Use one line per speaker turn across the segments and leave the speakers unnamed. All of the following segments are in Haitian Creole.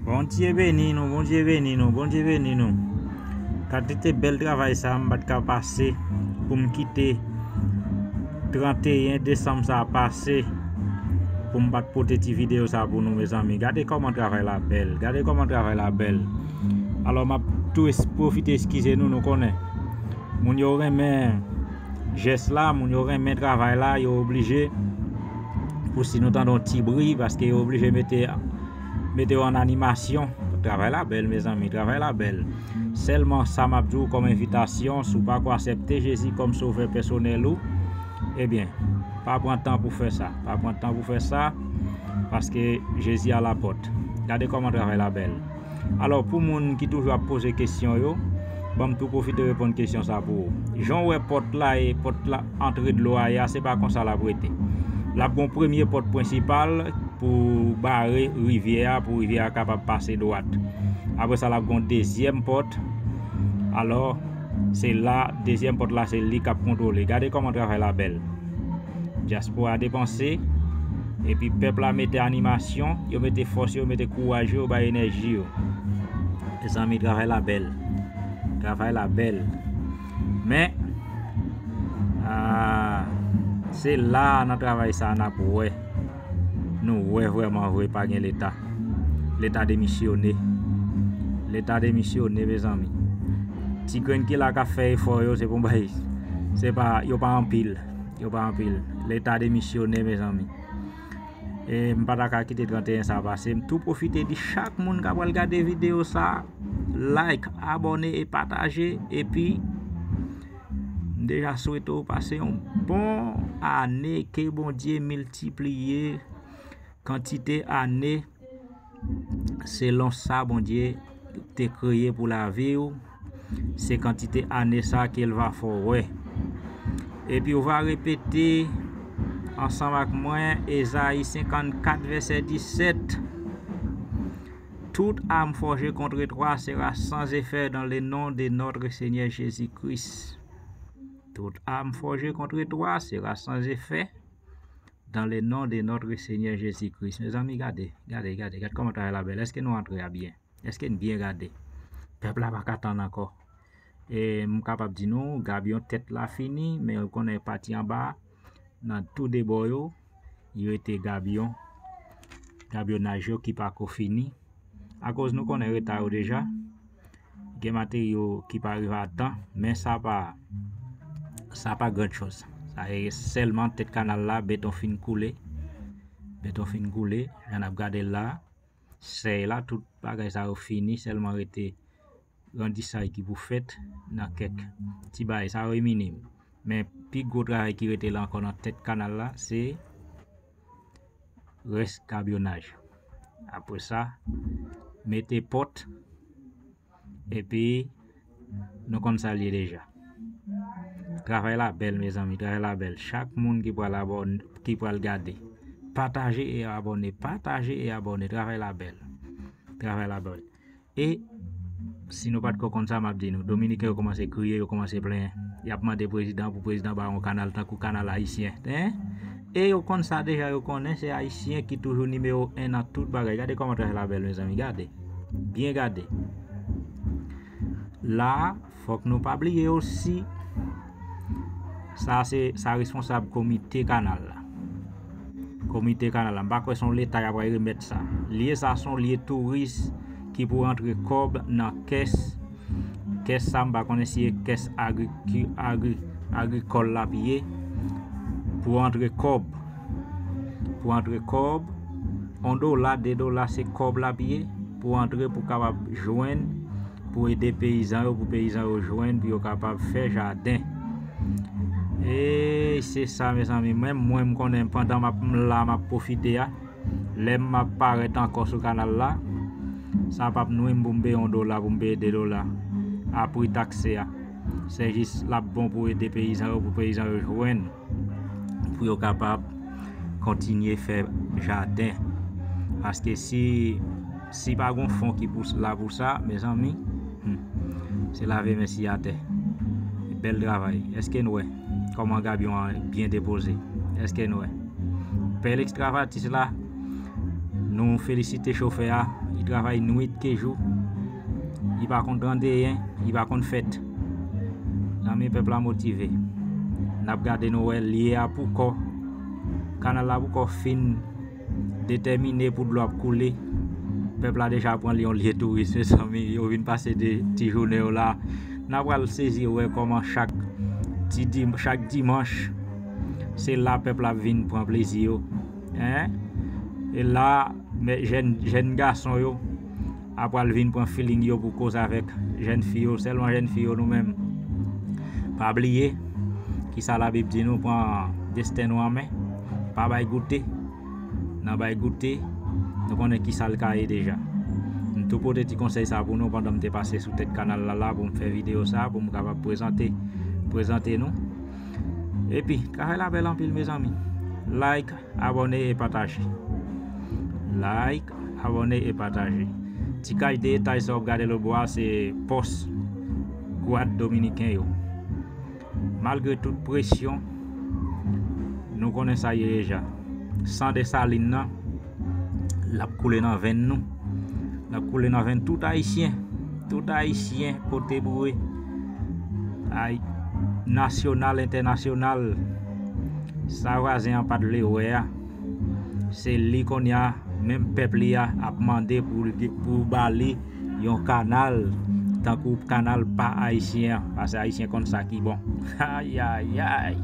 Bondye beni nou, Bondye beni nou, Bondye beni nou. Kantite bel travay sa m pat ka pase pou m kite 31 desanm sa pase pou m pat pote ti video sa pou nou mezanmi. Gade koman travay la bel, gade koman travay la bel. Alo map tou profite eskize nou, nou konnen moun yo renmen jès la moun yo renmen travay la yo oblije pou si nou tandon ti bri paske yo oblije mete mete yo an animasyon travay la bèl mezanmi travay la bèl sèlman sa m ap di w kòm envitasyon sou pa ko asepte jezi kòm sovè pèsonèl ou ebyen pa pran tan pou fè sa pa pran tan pou fè sa paske jezi a la pòt gade kòman travay la bèl Alò pou moun ki toujou ap poze kesyon yo, banm tou pwofite reponn kesyon sa pou ou. Jan w wè pòt la e pòt la antre dlo a ye a se pa konsa lap rete. Lap gon premye pòt prensipal pou bare rivyè a pou rivyè a kapab pase dwat. Apre sa lap gon dezyèm pòt. Alò se la dezyèm pòt la se li kap kontwole. Gade kòman travay la bèl. Dyaspora depanse, epi pèp la mete animasyon, yo mete fòs yo, yo mete kouraj yo, yo bay enèji yo. Mezanmi, travay la bèl. Travay la bèl. Men, ah, se la nan travay sa a n ap wè. Nou wè vrèman vre pa gen leta. Leta demisyone. Leta demisyone mezanmi. Ti grenn ki la ka fè efò yo se pou bay. Se pa yo pa anpil. Yo pa anpil. Leta demisyone mezanmi. E m pa ta ka kite 31 sa pase. M tou pwofite di chak moun ka pral gade video sa like, abone e pataje epi M deja swete w pase yon bon ane ke Bondye miltipliye kantite ane selon sa Bondye te kreye pou lavi w se kantite ane sa ke l va fè w wè epi w va repete ansanm ak mwen Ezayi 54 vèsè 17. Toute arme forgée contre toi sera sans effet dans le nom de notre Seigneur Jesus Christ Toute arme forgée contre toi sera sans effet dans le nom de notre Seigneur Jesus Christ Mezanmi gade, gade, gade, gade kòman travay la bèl Eske nou antre a byen? Eske n byen gade? Pèp la pa ka tann ankò E m kapab di nou Gabion tèt la fini men ou konnen pati anba a nan tou de bò yo, yo rete gabyon, gabyonaj yo ki pa ko fini. Akoz nou konnen reta yo deja, gen materyo ki pa rive a tan, men sa pa, sa pa gran chòz. Sa e sèlman tèt kanal la, beton fin koule, beton fin koule, jan n ap gade l la, sèy la, tout bagay sa yo fini, sèlman rete. grandisay ki pou fèt nan kèk ti bagay sa yo e minim men pi gwo travay ki rete la ankò nan tèt kanal la se rès kabyonaj apre sa mete pòt epi nou konn sa l ye deja travay la bèl mezanmi travay la bèl chak moun ki pral abòne ki pral gade pataje e abòne pataje e abòne travay la bèl travay la bèl E, si nou pa t ko konn sa, m ap di nou, Dominiken yo koumanse kriye, yo koumanse plenyen. Y ap mande prezidan pou prezidan ba yo yon kanal tankou kanal ayisyen. Hein? E yo konn sa deja, yo konnen se ayisyen ki toujou nimewo 1 nan tout bagay. Gade kòman traj la bèl mezanmi, gade. Byen gade. La a. Fòk nou pa bliye osi, sa se sa responsab komite kanal la. Komite kanal la, m pa kwè son leta y ap pral remèt sa. Lye sa son lye touris ki pou antre kòb nan kès, kès sa m pa konnen si e kès agrikòl l ap ye pou antre kòb. pou antre kòb, 1 dola, 2 dola se kòb lap ye pou antre pou kapab jwenn pou ede peyizan yo pou peyizan yo jwenn pou yo kapab fè jaden. E se sa mezanmi mwen mwen m konnen pandan map m la map profite a lèm map parèt ankò sou kanal la sa pap nwi m pou m peye 1 dola pou m peye 2 dola a pri takse a se jis lap bon pou ede peyizan yo pou peyizan yo jwenn pou yo kapab kontinye fè jaden paske si si pa gon fon ki pou la pou sa mezanmi se lave men si atè bèl travay eske n wè kòman gabyon an byen depoze eske n wè bèl ekstravatis la nou felisite chofè a li travay nwit ke jou Li pa konn grandeyen, li pa konn fèt. Zanmi pèp la motive. Nap gade nou wè li a pou kò. Kanal la pou kò fin detèmine pou dlo ap koule. Pèp la deja pran li yon lye touris me zanmi. Yo vin pase de ti jounen yo la. Nap pral sezi wè koman chak ti di chak dimanche se la pèp la vin pran plezi yo. Hein? E la men jèn jèn gason yo a pral vin pran feeling yo pou koz avèk jèn fi yo sèlman jèn fi yo nou menm pa bliye ki sa la bib di nou pran desten nou an men pa bay goute nan bay goute nou konnen ki sa l ka ye deja m tou pote ti konsèy sa pou nou pandan m te pase sou tèt kanal la la pou m fè video sa pou m kapab prezante prezante nou epi travay la bèl anpil mezanmi like Abòne e pataje Like abòne e pataje Ti kach de etay sa wap gade lotbo a se pòs gwad dominiken yo Malgre tout presyon Nou konnen sa ye deja San Desalin nan Lap koule nan venn nou Lap koule nan venn tout ayisyen Tout ayisyen pote boure Ayi Nasyonal entènasyonal Sa vwazen an pat vle wè a se li konnya menm pèp li a ap mande pou bali yon kanal tankou kanal pa ayisyen an pase ayisyen konn sa ki bon ayayayy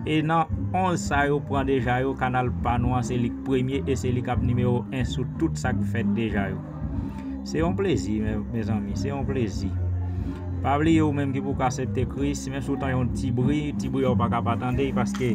e nan 11 sa yo pran deja yo kanal pa nou an se li k premye e se li kap nimewo 1 sou tout sak fèt deja yo. Se yon plezi mezanmi, se yon plezi. Pa bliye ou menm ki poko asepte Kris, menm si ou tan yon ti bri, ti bri a ou pa ka pa tande paske